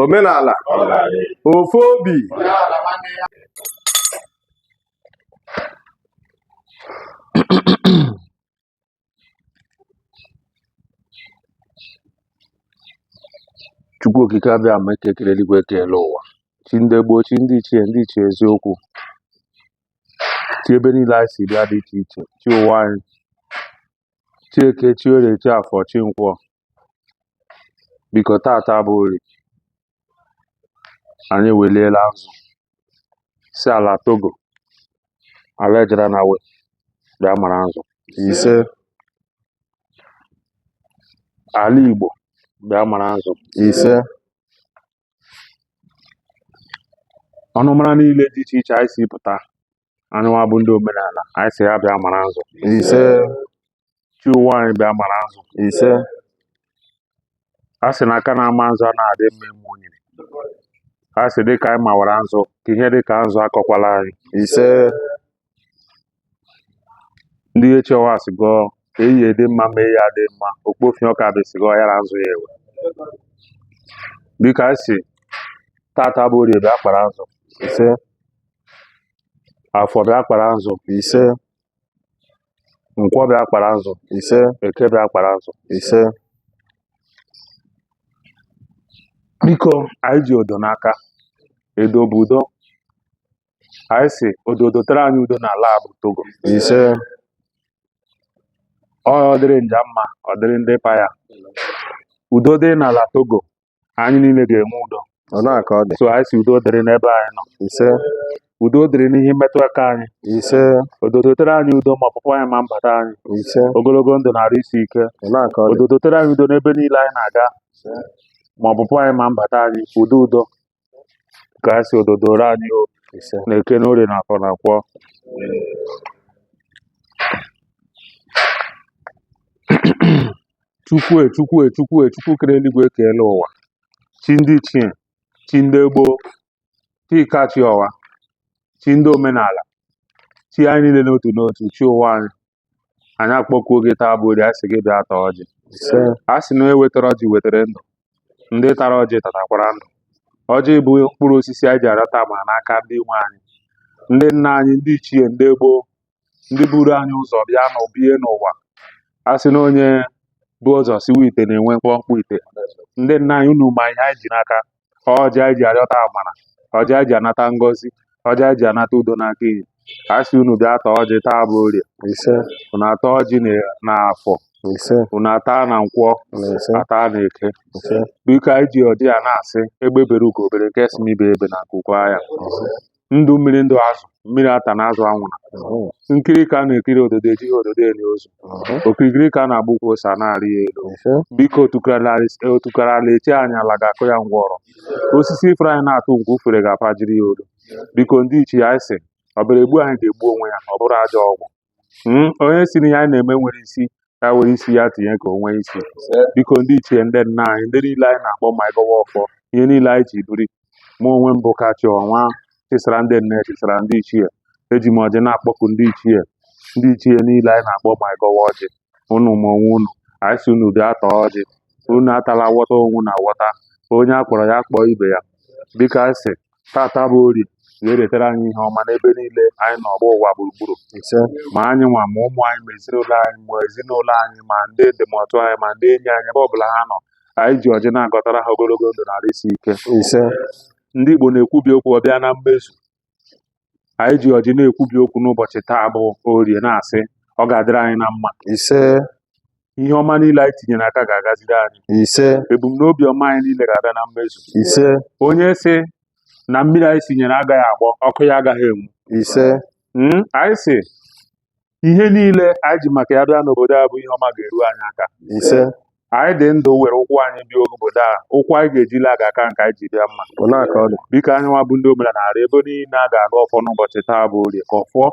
omenala ofu obi Chukwu okike abịama eke kere eluigwe kee elu ụwa chi ndị gboo chi ndị ichie ndị ichie eziokwu chi ebe niile anyị si bịa dị iche iche chi ụwa anyị chi eke chi orie chi afọ chi nkwọ biko tata bụ orie anyị eweliela nzu sị ala togo ala ejere na we bịa mara nzu ise ala igbo bịa mara nzu ise ọnụmara niile dị iche iche anyị si pụta anyị nwa bụ ndị omenala anyị sị ya bịa mara nzu ise chi ụwa anyị bịa mara nzu ise a sị na aka na-ama nzu a na-adị mma ime onye a sị dị ka anyị mawara nzu ka ihe dị ka nzu akọkwala anyị ise ndị Ihechiowa sị gọọ ka eyi dị mma ma eyi adị mma okpofi ọka bụ esi gọọ ya na nzu ya ewe dịka anyị si tata bụ orie bịa kpara nzu ise afọ bịa kpara nzu ise nkwọ bịa kpara nzu ise eke bịa kpara nzu ise biko anyị ji odo n'aka edo bụ udo anyị sị odo dotere anyị udo n'ala a bụ togo ise ọ dịrị nja mma ọ dịrị ndị pa ya udo dị n'ala togo anyị niile ga-enwe udo ọ na-aka ọ dị so anyị sị udo dịrị n'ebe anyị nọ ise udo dịrị n'ihe mmetụ aka anyị ise odo dotere anyị udo ma ọpụpụ anyị ma mbata anyị ise ogologo ndụ na arụ isi ike ọ na-aka ọ dị odo dotere anyị udo n'ebe niile anyị na-aga ma ọpụpụ anyị ma mbata anyị udo udo ka a sị odo doro anyị o ise na eke na orie na afọ na nkwọ chukwu e chukwu e chukwu e chukwu kere eluigwe kee elu ụwa chi ndị ichie chi ndị gboo chi kachi ọwa chi ndị omenala chi anyị niile n'otu n'otu chi ụwa anyị anyị akpọkuo gị taa bụ orie anyị sị gị bịa taa ọjị ise a sị na onye wetara ọjị wetara ndụ ndị tara ọjị tatakwara ndụ ọjị bụ mkpụrụ osisi anyị ji arịọta mma n'aka ndị nwe anyị ndị nna anyị ndị ichie ndị gboo ndị buru anyị ụzọ bịa na bie n'ụwa a sị na onye bu ụzọ siwa ite na-enwe mkpọmkpọ ite ndị nna anyị unu ma ihe anyị ji n'aka ọjị anyị ji arịọta amara ọjị anyị ji anata ngọzi ọjị anyị ji anata udo n'aka anyị sị unu bịa taa ọjị taa bụ orie ise unu ataa ọjị na- na afọ ise unu ataa na nkwọ na ise ataa na eke ise biko anyị ji ọjị a na-asị egbe bere ugo bere nke sị n'ibe ebena nku kwaa ya ndụ mmiri ndụ azụ mmiri atana azụ anwụna nkiri ka a na-ekiri ododo ejighị ododo eli ozu okirikiri ka a na-agba ukwu ose a na-arị ya elu biko otukara ala eche anyị ala ga-akụ ya ngwọrọ osisi ifere anyị na-atụ nke ufere ga-apajiri ya olu biko ndị ichie anyị sị ọbịara egbu anyị ga-egbu onwe ya ọ bụrụ ajọ ọgwụ Hmm, onye sị na ihe anyị na-eme enweghị isi ya were isi ya tinye ka o nwee isi biko ndị ichie ndị nna anyị ndị niile anyị na-akpọ ma anyị gọwa ọfọ ihe niile anyị ji biri mụ onwe m bụ kachi ọnwa chịsara ndị nne chịsara ndị ichie eji m ọjị na-akpọku ndị ichie ndị ichie niile anyị na-akpọ ma anyị gọwa ọjị unu ma onwe unu anyị sị unu bịa taa ọjị unu atala awọta onwe na awọta onye a kpọrọ ya kpọọ ibe ya biko anyị sị tata bụ orie ga-eretara anyị ihe ọma n'ebe niile anyị nọ gbaa ụwa gburugburu ise ma anyị nwa ma ụmụ anyị ma ezinụlọ anyị ma ezinụlọ anyị ma ndị ndịmọtụ anyị ma ndị enyi anyị ebe ọbụla ha nọ anyị ji ọjị na-agọtara ha ogologo ndụ na ahụ isi ike ise ndị Igbo na-ekwubi okwu ọ bịa na mmezu anyị ji ọjị na-ekwubi okwu n'ụbọchị taa bụ orie na-asị ọ ga-adịrị anyị na mma ise ihe ọma niile anyị tinyere aka ga-agaziri anyị ise ebumnobi ọma anyị niile ga-abịa na mmezu ise onye sị na mmiri anyị sinyere agaghị agbọ ọkụ ya agaghị enwu ise Mm, anyị sị ihe niile anyị ji maka ya bịa n'obodo a bụ ihe ọma ga-eru anyị aka ise anyị dị ndụ were ụkwụ anyị bịa obodo a ụkwụ anyị ga-eji la ga-aka nke anyị ji bịa mma ọ na-aka ọ dị biko anyị nwa bụ ndị omenala na-arịọ ebe niile a ga-agọ ọfọ n'ụbọchị taa bụ orie ka ọfọ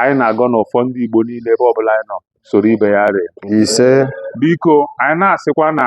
anyị na-agọ na ọfọ ndị Igbo niile ebe ọbụla anyị nọ soro ibe ya rịa ise biko anyị na-asịkwa na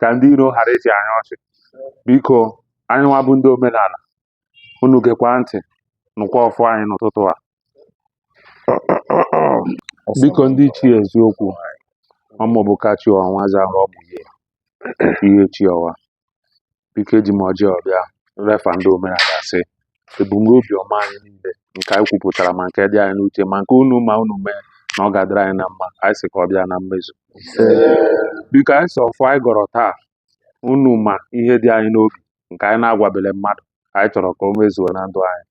ka ndị iro ghara ịchị anyị ọchị biko anyị nwa bụ ndị omenala unu gekwa ntị nụkwa ọfọ anyị n'ụtụtụ a biko ndị ichie eziokwu ọ mụ bụ kachi ọnwa zara ọ bụ ihe ihe chi ọwa biko eji m ọjị a bịa refa ndị omenala sị ebumnobi ọma anyị niile nke anyị kwupụtara ma nke dị anyị n'uche ma nke unu ma unu mee na ọ ga-adịrị anyị na mma anyị sị ka ọ bịa na mmezu biko anyị sị ọfọ anyị gọrọ taa unu ma ihe dị anyị n'obi nke anyị na-agwabele mmadụ anyị chọrọ ka o mezuo na ndụ anyị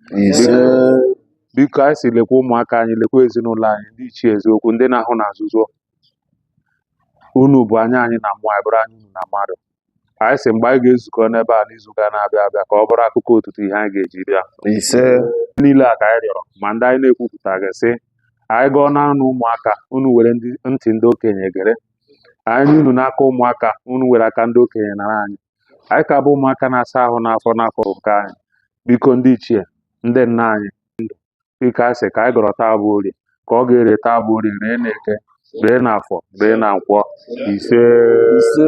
biko anyị sị lekwa ụmụaka anyị lekwa ezinụlọ anyị ndị ichie eziokwu ndị na-ahụ na nzuzo unu bụ anya anyị na mmụọ anyị bụrụ anya unu na mmadụ anyị sị mgbe anyị ga-ezukọ n'ebe a n'izuụka na-abịa abịa ka ọ bụrụ akụkọ ọtụtụ ihe anyị ga-eji bịa ise niile a ka anyị rịọrọ ma ndị anyị na-ekwupụtaghị sị anyị gọọ n'ọnụ ụmụaka unu were ndị ntị ndị okenye gere anyị nye unu n'aka ụmụaka unu were aka ndị okenye nara anyị anyị ka bụ ụmụaka na-asa ahụ n'afọ n'afọ nke anyị biko ndị ichie ndị nna anyị ndụ dịka anyị sị ka anyị gọrọ taa bụ orie ka ọ ga-ere taa bụ orie ree na eke ree na afọ ree na nkwọ ise ise